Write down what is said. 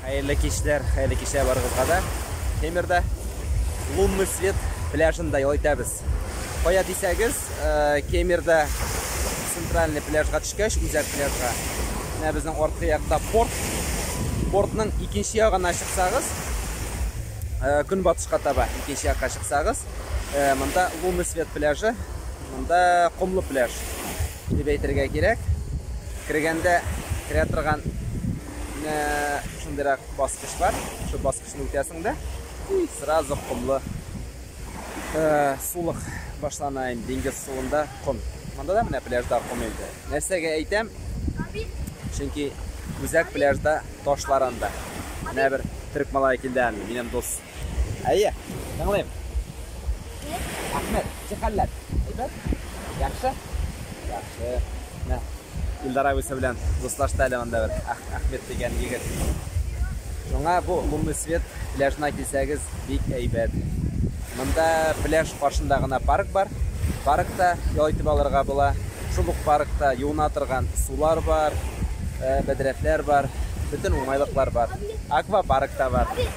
Хәерле кичләр, хәерле кичләр барыгызга да. Темирда Лунный свет пляжында ял итәбез. Кая дисәгез, э, Кемерда центральный пляжга төшкәч, үзәк пляжга. Менә безнең арткы якта порт. Портның икенче ягына чыксагыз, э, көнбатышка таба икенче якка чыксагыз, э, монда Лунный свет пляжы, монда комлы пляж. Дип әйтергә кирәк. Кергәндә керә торган шундыйрак баскыч бар. Шул баскычны үтәсең дә и сразу комлы э, сулык башлана инде диңгез суында ком. Монда да менә пляжда ком инде. Нәрсәгә әйтәм? Чөнки үзәк пляжда ташлар анда. Менә бер төрек малае килде әле, минем дус. Әйе, тыңлыйм. Әхмәт, ничек хәлләр? Әйбәт? Яхшы? Яхшы. Менә Илдар абысы белән дуслашты әле монда бер Әхмәт дигән егет. Шуңа бу Лунный свет пляжына килсәгез, бик әйбәт. Монда пляж каршында гына парк бар. Паркта ял итеп алырга була. Шул ук паркта юына торган сулар бар, э, бәдрәфләр бар, бөтен уңайлыклар бар. Аквапарк та бар.